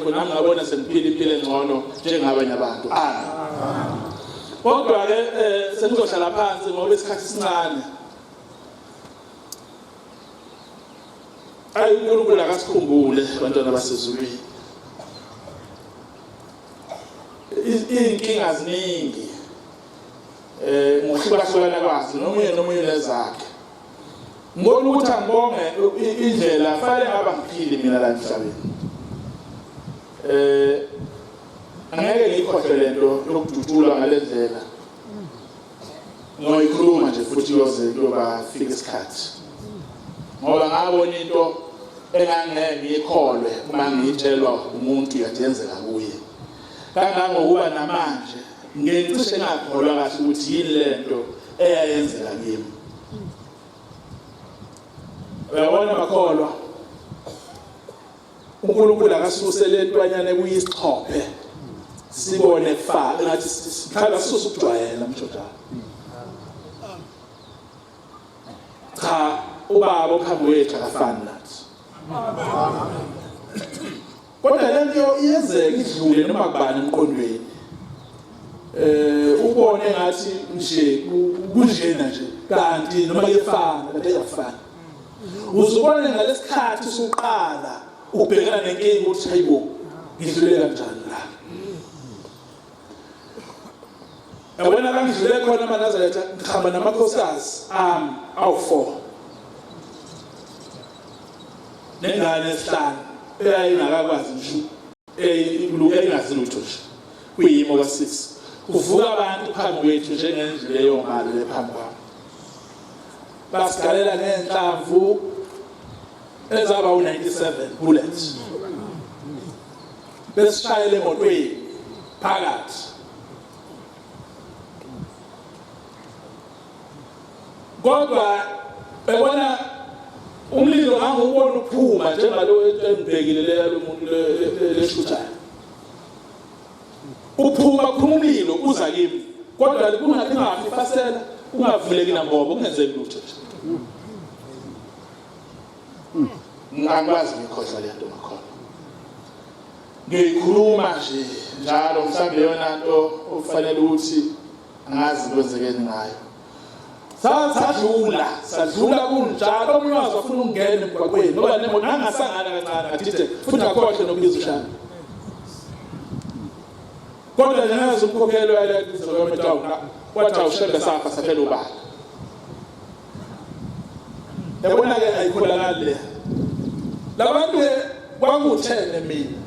khona ngabona sengiphila impilo engcono njengabanye abantu amen kodwa ke eh, senizohlala phansi ngoba isikhathi sincane ayi uNkulunkulu akasikhumbule bantwana basezulwini izinkinga ziningi eh ngokuhlukahlukana kwazo nomunye nomunye nezakhe Ngibona ukuthi angibonge indlela fanele ngaba ngiphile mina la emhlabeni. Eh angeke ngikhohle lento yokudutshulwa ngalendlela. Ngoyikhuluma nje futhi yoze kuyoba fika isikhathi. Ngoba ngabona into engangeke ngiyikholwe uma ngiyitshelwa umuntu yadenzeka kuye. Kangangokuba namanje Ngicishe ngakholwa kahle ukuthi yini lento eyayenzeka kimi. Uyabona makholwa. uNkulunkulu akasuse lentwanyana kuyisixhophe sibone kufa ngathi sikhala sisusa ukujwayela mjojana cha ubaba okhamba wethu akafani nathi kodwa le nto iyenzeka idlule noma kubani emqondweni eh ubone ngathi nje kunjena nje kanti noma kuyefana kanti ayafana uzubone ngalesikhathi sokuqala ubhekana nenkinga ukuthi hayibo ngidlule kanjani la yabona la ngidlule khona manazaretha ngihamba namakhosikazi ami awu-four nengane esihlanu eyayingakakwazi ngisho eyingazi lutho nje kuyimo ka-six kuvuka abantu phambi kwethu njengendlu leyongalo lephambi kwami basigalela ngenhlamvu ezaba u97 bullets besishayele emotweni phakathi kodwa ebona umlilo ngangiwubona uphuma njengalo engibhekile leya lomuntu leshuthayo uphuma phuma umlilo uza kimi kodwa kungathi ngafi fasela ungavuleki nambobo kungenzeki lutho Hmm. Ngingakwazi ngikhohlwa le nto ngakhona. Ngiyikhuluma nje njalo mhlawumbe yona nto okufanele ukuthi angazi kwenzekeni ngayo. sadlula sadlula kunjalo omunye wazi wafuna ukungena emgwaqweni ngoba nemoto nangasangana kancane ngadide futhi akhohle nokubiza ushana kodwa njengazi umkhokhelo yalezo kwemetawu wathi awushembe safa saphela ubala yabona ke ayikholakali le labantu ke kwakuthene mina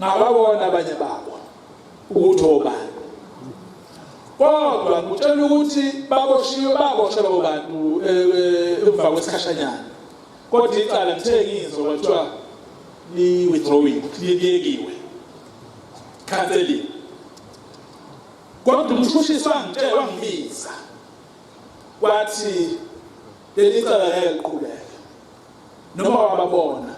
ngababona abanye babo ukuthi obani kodwa ngitshela ukuthi baboshiwe baboshelwa bobantu eh, eh, emva kwesikhashanyana kodwa icala ngithe ngizwa kwathiwa li-withdrawing liyekiwe canceling Kodwa umshushisi wangitshela wangibiza wathi leli cala ngeke liqhubeke noma wababona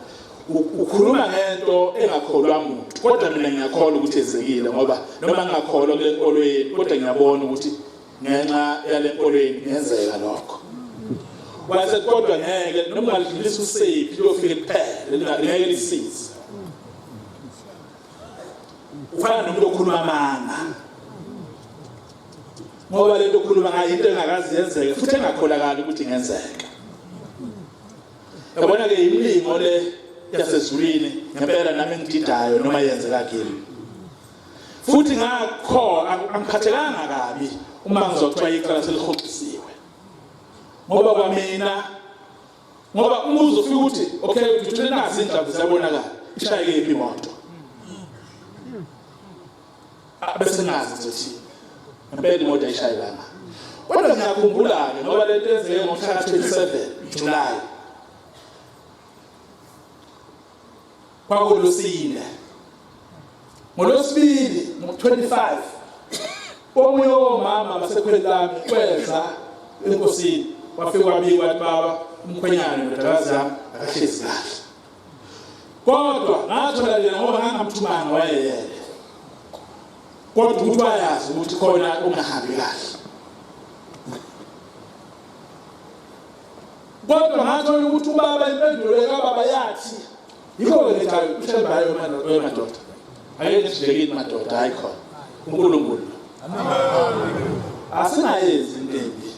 ukhuluma ngento engakholwa muntu kodwa mina ngiyakholwa ukuthi ezekile ngoba noma ngingakholwa kule nkolo yenu kodwa ngiyabona ukuthi ngenxa yale nkolo yenu ngenzeka lokho wathi kodwa ngeke noma ungalidlulisa usephi liyofika kuphela ngeke lisize ufana nomuntu okhuluma amanga ngoba lento okhuluma ngayo into engakazi yenzeke futhi engakholakali ukuthi ingenzeka yabona ke imilingo le yasezulwini ngempela nami ngididayo noma yenzeka kimi futhi ngakho angiphathekanga kabi uma ngizokuthiwa icala selihoxisiwe ngoba kwamina ngoba uma uzofika ukuthi okay ngithule nazi indaba ziyabonakala ishayeke yiphi imoto bese nazi ukuthi ngempela imoto ayishayelanga kodwa ngiyakhumbula-ke ngoba le nto yenzeke ngomhla ka-27 July kwakuLusinda. NgoLwesibili ngo-25 omunye womama basekhweli lami kweza enkosini wafika wabika wathi baba umkhwenyana ndodakazi yami akahlezi kahle kodwa ngathola lena ngoba ngangamthumanga wayeyele kodwa ukuthi wayazi ukuthi khona ongahambi kahle Kodwa ngathola ukuthi ubaba impendulo kababa yathi yikho-ke nje uthembayo madoda ayeke sihlekile madoda hayi khona unkulunkulu asingayenzi into embi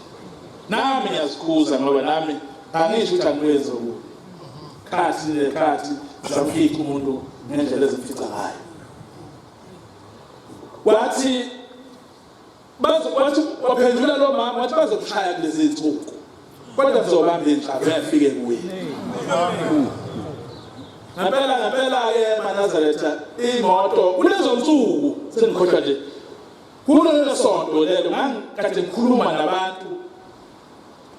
nami ngiyazikhuza ngoba nami angisho ukuthi angikwenzi okubi khathi nekhathi zamfica umuntu ngendlela ezimfica ngayo wathi wathi waphendula lo mama wathi bazokushaya kulezi nsuku kodwa kuzobamba inhlaba uyafike kuye ngempela ngempela-ke manazaretha imoto kulezo nsuku sengikhohlwa nje kulelo sonto lelo ngangikade ngikhuluma nabantu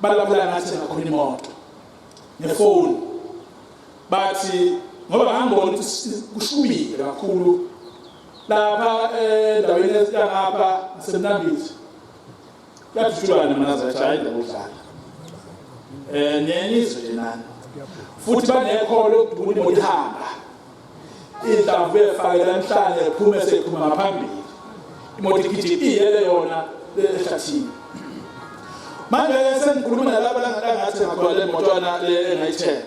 balabula ngathi ngakhona imoto ngefoni bathi ngoba ngangibona ukuthi kushubile kakhulu lapha endaweni esitangapha semnambithi kuyadutshulana mina zajayele ukudlala um nenizwe nje nani futhi banekholo lokudubula imoto ihamba inhlamvu efakela emhlane ephume sephuma ngaphambili imoto igijima iyele yona ehlathini manje sengikhuluma nalaba langathi ngakhona le motwana le engayithenga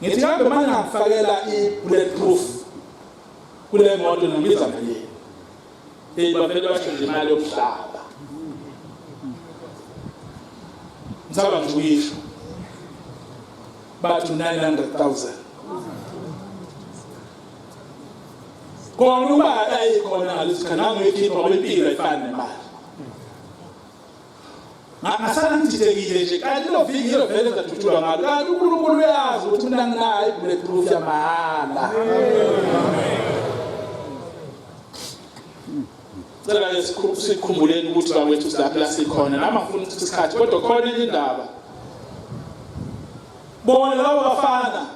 ngithi kambe manje ngifakela i-bullet proof kule moto nibiza malini eyi bavele basho nje imali yokuhlaba ngisaba nje uyisho bathi 900000 kona uba akayikhona ngalesikhathi nangoyikhipha kwempilo ayifani nemali ngasala ngididekile nje kanti lelo viki ngilo vele zathuthuka ngalo kanti uNkulunkulu uyazi ukuthi mina nginayo bulletproof yamahhala cela sikhumbuleni ukuthi bakwethu silaphi la sikhona nami angifuni ukuthi isikhathi kodwa khona enye indaba bona labo bafana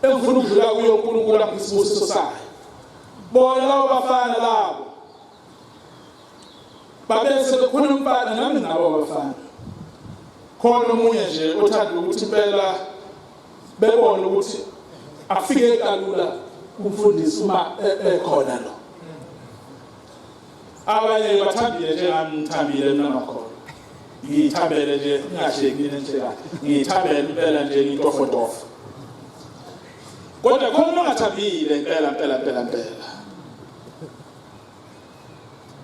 engifuna ukudlula kuyo uNkulunkulu angisibusiso sayo bona labo bafana labo babese bekhona umfana nami nabo abafana khona omunye nje othanda ukuthi impela bebone ukuthi afike kalula kumfundisi uma e- ekhona lo abanye bathambile njengami ngithambile mina ngakhona ngiyithambele nje ngingashekile nje ngiyithambele impela nje ngintofotofo kodwa khona ongathambile impela impela impela impela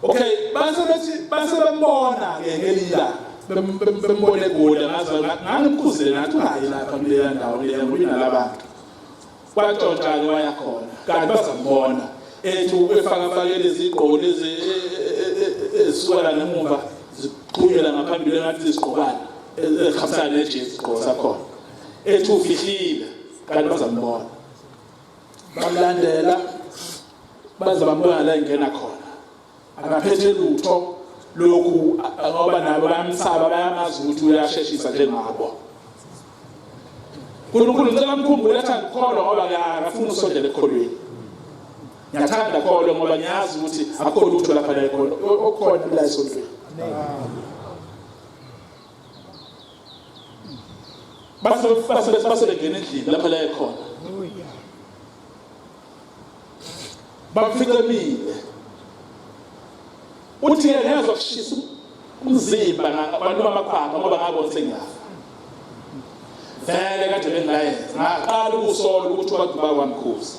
okay base bethi base bembona ke ngelila bembone egoli ngaze ngangikhuzile ngathi ungayi lapha kuleya ndawo leya ngoba inalabantu kwaxoxa ke wayakhona kanti bazambona ethi ubefaka fakele izigqoko lezi e, e, e, ezisukela ngemuva ziqhumela ngaphambili ngathi izigqokana ezihambisana nejezi igqoko sakhona ethi ufihlile kanti bazambona bamlandela baze bambuka la engena khona akaphethe lutho lokhu ngoba nabo bayamsaba bayamazi ukuthi uyasheshisa njengabo uNkulunkulu ngicela mkhumbule athi angikholwa ngoba ngiyafuna usondela ekholweni ngiyathanda kholwa ngoba ngiyazi ukuthi akukho lutho lapha la ekhona okukhona la esontweni base base base bengena endlini lapha la ekhona bamficemile uthi yena ngezwa kushisa umzimba abantu bamakhwapha ngoba ngabona sengiyafa vele kade bengilayenza ngaqala ukusola ukuthi abantu bakwamkhuza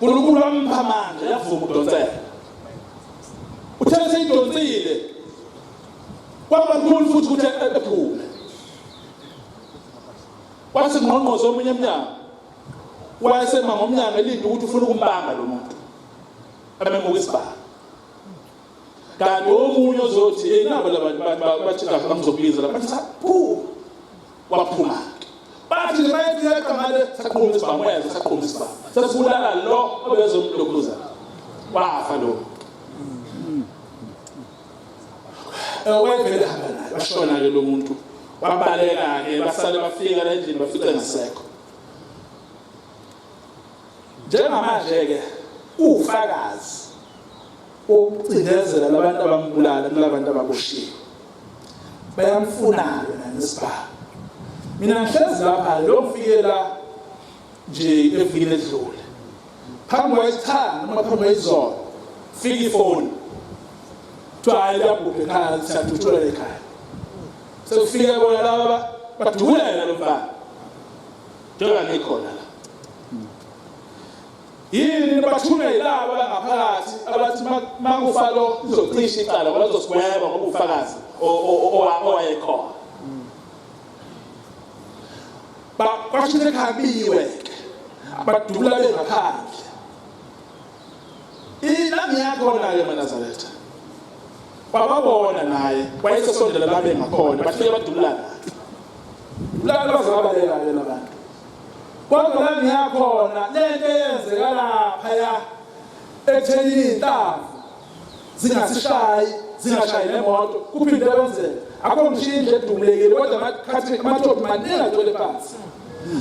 uNkulunkulu wampha amandla yavuma udonsela uthe seyidonsile kwaba lula futhi ukuthi ephume wathi ngqongqoze omunye emnyango wayesema ngomnyango elinde ukuthi ufuna ukumbamba lo muntu amemuka isibhamu kanti omunye ozothi enabo labantu bathi kahle bangizokubiza lapha waphuma bathi nje bayethi yaqamale saqhuma isibhamuyenza saqhuma isibhamu sesibulala lo obezomlokhuza wafa lo wayevele hamba naye bashona-ke lo muntu wabaleka-ke basale bafika la endlini bafice ngasekho njengamanje-ke uwufakazi ukucindezela labantu abambulala kulabantu ababoshiwe bayamfuna yena nesibhamu mina ngihlezi lapha lo ngifike la nje evikini edlule phambi kwayisithanda noma phambi kwayizona fika ifoni kuthiwa hayi liyabhubha ekhaya siyadutshula ekhaya sekufika bona laba badulela lo mfana njenga ngikhona la Yini nibathunga yilaba bangaphakathi abathi makufa lo izocisha icala ngoba lizosigweba ngoba ufakazi owayekhona. Kwasho sekhabiwe ke badubula bengaphandle. Ilami yakho nayo manazaretha. Bababona naye wayesesondela labe ngakhona bafike badubulana. Dubulana bazabaleka yena abantu. Kodwa la ngiyakhona lento eyenzeka laphaya ekuthenini iy'nhlamvu zingasishayi zingashayi nemoto kuphinde kwenzeka akho mshini nje edumulekile kodwa amathopi maningi agcwele phansi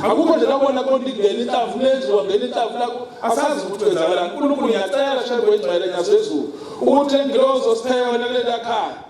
akukho nje labona konke ingena inhlamvu lenziwa ngena inhlamvu lakho asazi ukuthi kwenzakalani unkulunkulu ngiyacela shembe wengcwele nyazezulu ukuthi lengilozo sipheke wena kuleli akhaya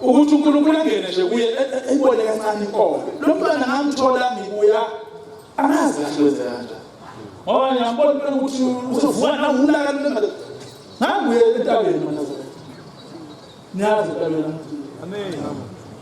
ukuthi uNkulunkulu angene nje kuye e, e, eyibone kancane inkomo lo mntwana ngamthola ngibuya angazi kahle kwenzeka kanjani ngoba ngiyambona impela ukuthi uzovuka nawulaka lule madoda nganguye entabeni manazareth niyazi entabeni amen